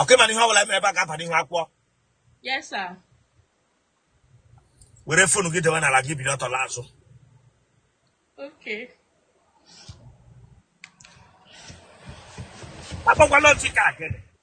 ọkwa ị ma na ihe ọbụla mere ebe a ga-aba n'ihu akwụkwọ Yes, sir. were fonu gị dewe n'ala gị biri ọtọ laa azụ Okay. akpọkwala ntị ka akịrị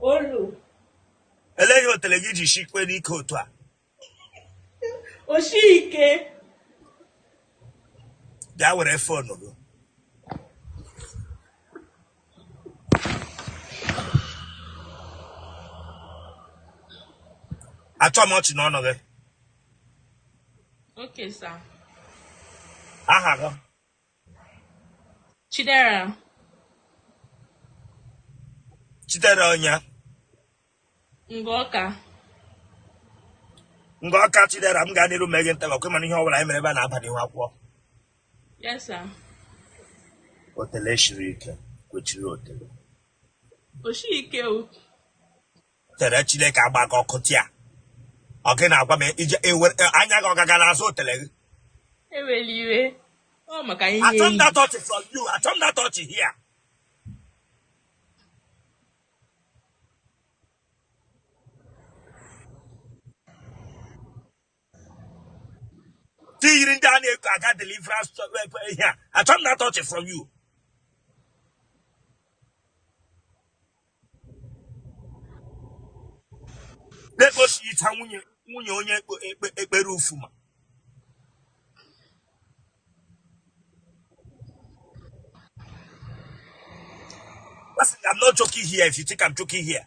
Olo. Ele ihe otele gị ji shikwe ike otu a? O shi ike. Bịa were fon gị. Achọ m ọchị n'ọnụ gị. Okay, sir. Aha gị. Chidera. Chidera onye. Ngọka. Ngọka Chidera m gaa n'iru mgbe nta ọkwa ị ma na ihe ọbụla anyị mere ebe a na-aba n'ihu akwụkwọ. Yes sir. Otele shiri ike kwechiri otele. O shiri ike o. tere chineke agba gị ọkụ there ọ gị na-agwa m ihe ewere anya gị ọ gaga n'azụ otele gị ewela iwe ọ maka ihe achọ m that ọchị from you achọ m that ọchị here ti yiri ndị a na-eko aga deliverance ihe a achọ m that ọchị from you na-ekpochicha nwunye nwunye onye ekpe- ekpe- ekpere Ufuma Listen, I'm not joking here if you think I'm joking here.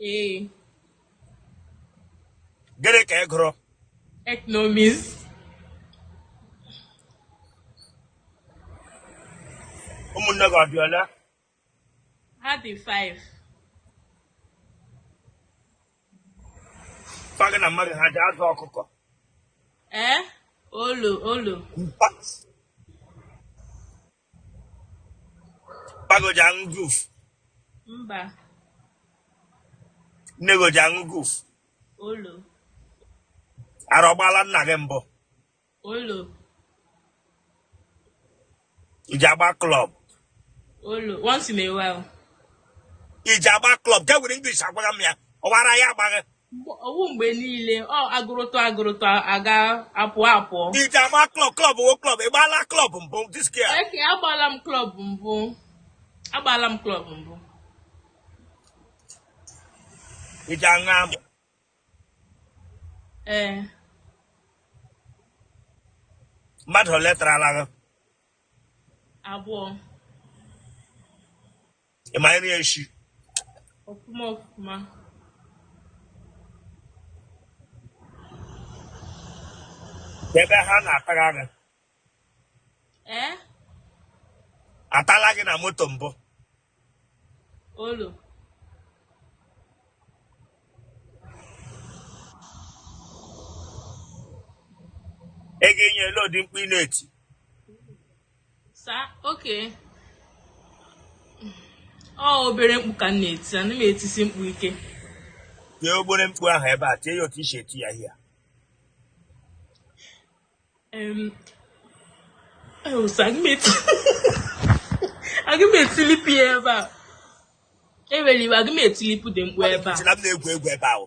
Ee. Gịnị ka ị gụrụ? Economics. Ụmụnne gị ọ dị ole? Ha dị five. Pa gị na mma gị ha ji azụ ọkụkọ. Ee, eh? olo olo. Pa gị ọ ji aṅụ guf. Mba. Nne gị ọ ji aṅụ guf. Olo. Ara ọ gbala nna gị mbụ. Olo. I ji agba club. Olo. Once in a while. I ji agba club. Gị ewere English agwara m ya. Ọ wụ ara ya agba gị. ọ wụ mgbe niile ọ agụrụtụ agụrụtụ aga apụọ apụọ i ji agba klọb klọb wo klọb ị gbaala klọb mbụ diskia eke agbala m klọb mbụ agbala m klọb mbụ i ji aṅụ amụ ee mmadụ ole tarala gị abụọ Ị ma nri echi? Ọfụma ọfụma. Ebe ha na-atara gị. Ee? Atala gị na moto mbụ. Olu. Gwa anyị olee ụdị mkpu ị na-eti. sa okay ọ obere mkpu ka m na-eti ana m etisi mkpu ike tie obere mkpu ahụ ebe a tie ya otu i si eti ya ihe aga m etilipu ya ebe a ewere iwe aga m etilipu ụdị mkpu ebe a na-egwu egwu ebe ahụ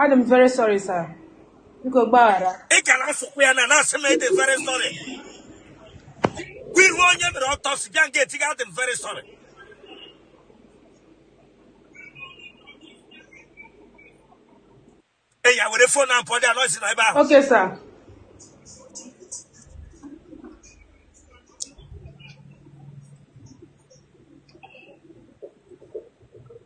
Adị m very sorry sir. Biko gbaghara. Ị ka na-asụkwa ya na na-asị m ị dị very sorry. Kwa ị hụ onye mere ọtọ si bịa nga etiga adị m very sorry. Ị ya were fon na mpọ dị anọzi na ebe ahụ. Okay sir.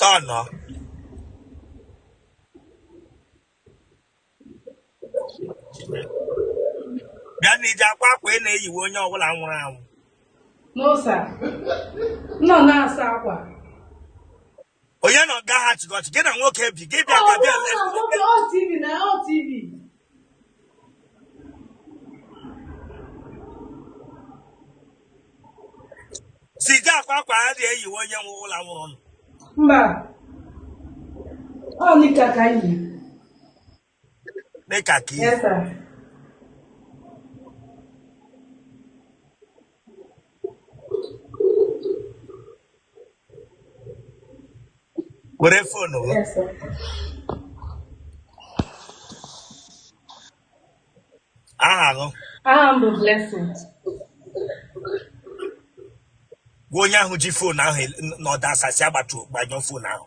Taa na bịa na i ji akwa akwa ị na-eyiwe onye ọbụla nwụrụ anwụ No, sir. No, no, sir. onye na ọga ha chịgọchị gị na nwoke bi gị bịa ka bịa si ji akwa akwa ha ji eyiwe onye ọwụla nwụrụ anwụ mba ọ nika ka anyị dịka ka ihe were fonu gị aha gị aha m bụ blessing gwa onye ahụ ji fonu ahụ nọdụ asasị agbatu gbanyụọ fonu ahụ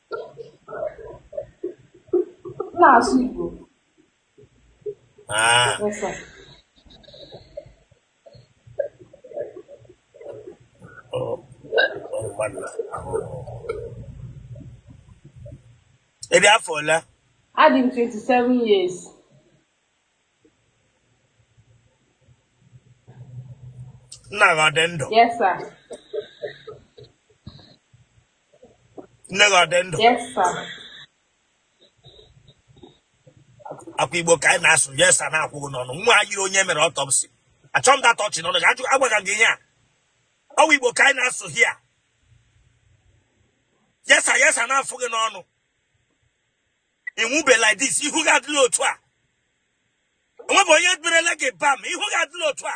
na-asụ Igbo ah. ị dị afọ ole adị m 27 years nna gị ọ dị ndụ yes sir nne gị ọ dị ndụ ọ kwa igbo ka anyị na-asụ yes sir na-akwụ gị n'ọnụ nwa ha yiri onye mere ọtọpsi achọghị m data ọchị n'ọnụ gị ajụ agwaga gị ihe a ọ wụ igbo ka anyị na-asụ hia yes sir yes sir na-afụ gị n'ọnụ ịnwụbe like this ihu gị adịla otu a onwe bụ onye berele gị bam ihu gị adịla otu a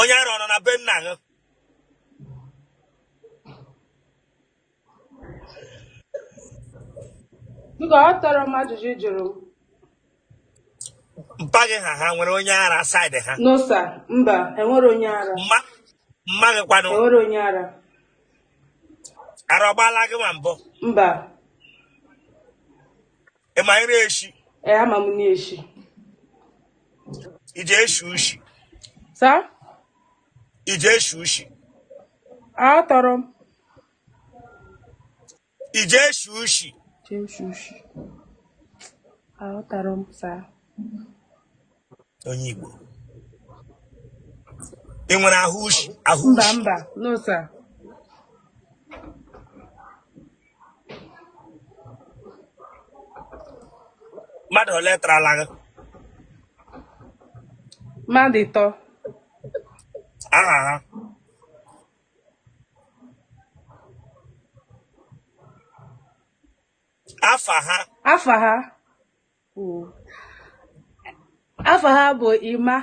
onye ara ọ nọ na be nna gị Mba, aghọtarọ m ajụjụ ị jụrụ m. mpa gị ha ha nwere onye ara side ha No sir, mba, enwerọ onye ara. mma mma gị kwanụ Enwerọ onye ara. ara ọ gbaala gị na mbụ Mba, ị ma ire eshi ee ama m na-eshi ije eshi ushi sir ije eshi ushi aghọtarọ m ije eshi ushi ije eshi ushi aghọtarọ m sir onye Igbo ị nwere ahụ ushi ahụ mba ushi mba no sir mmadụ ole tarala gị mmadụ ịtọ aha ha afa ha afa ha kwuo afa ha bụ Emma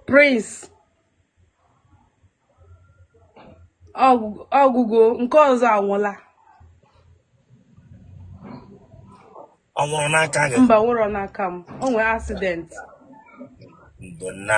Prince ọ gwụ- ọ gwụgo nke ọzọ anwụla ọ nwụrụ n'aka gị mba ọ nwụrọ n'aka m o nwere accident ndo nna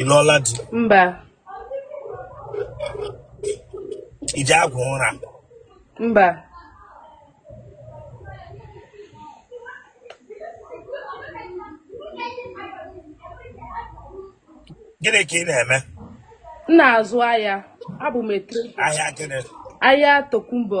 Ị lụọla di? Mba. Ị ji arụ ọrụ? Mba. Gịnị ka ị na-eme? M na-azụ ahịa. Abụ m a trader. Ahịa gịnị? Ahịa Tokumbo.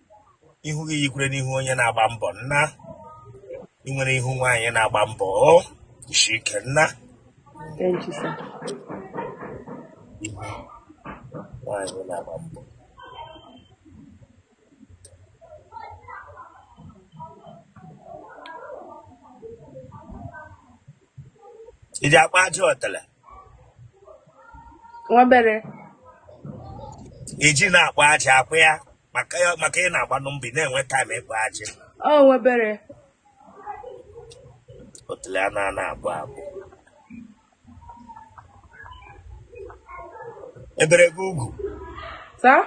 ihu gị yikwere n'ihu onye na-agba mbọ nna ị nwere ihu nwaanyị na-agba mbọ o isi ike nna Thank you, sir. ihu nwaanyị na-agba mbọ ị ji akpa ajị otele Nwa bere. ị ji na-akpa ajị akwa ya maka ya maka ị na-agbanụ mbọ ị na-enwe taịm ịkpa ajị o nwebere otule a na-ana abụ abụ e bere gị ugwu sir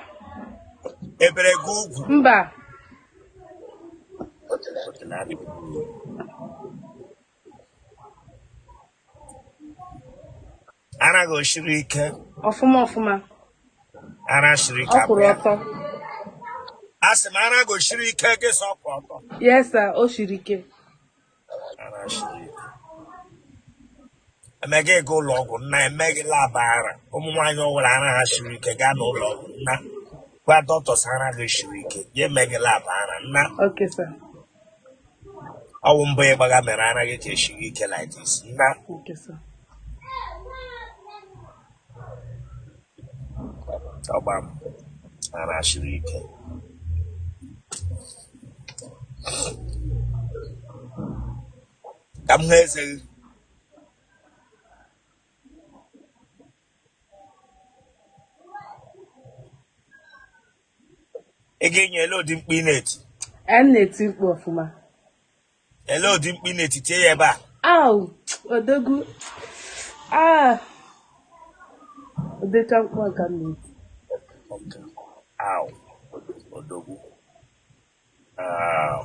e bere gị ugwu mba otule otule a na- Ara gị o siri ike? Ọfụma ọfụma. Ara siri ike. Ọ kwụrụ ọtọ. A sị m ara gị o siri ike gị sị ọ kwụrụ ọtọ. Yes sir, o siri ike. Ara siri ike. E mee gị gaa ụlọ ọgwụ nna e mee gị lab ara. Ụmụ nwaanyị ọwụla ara ha siri ike gaa n'ụlọ ọgwụ nna. gwa dọkịta ara gị siri ike ya emee gị lab ara nna ọ wụ mbọ ị gbaga mere ara gị ka esiri ike like this nna ọgba m ara siri ike ka m hụ eze gị ị ga-enye elee ụdị mkpu ị na-eti a na-eti mkpu ọfụma elee ụdị mkpu ị na-eti tie ya ebe a au odogwu ah ụdịka mkpu a ka m na-eti Ow. Odogwu. Ow.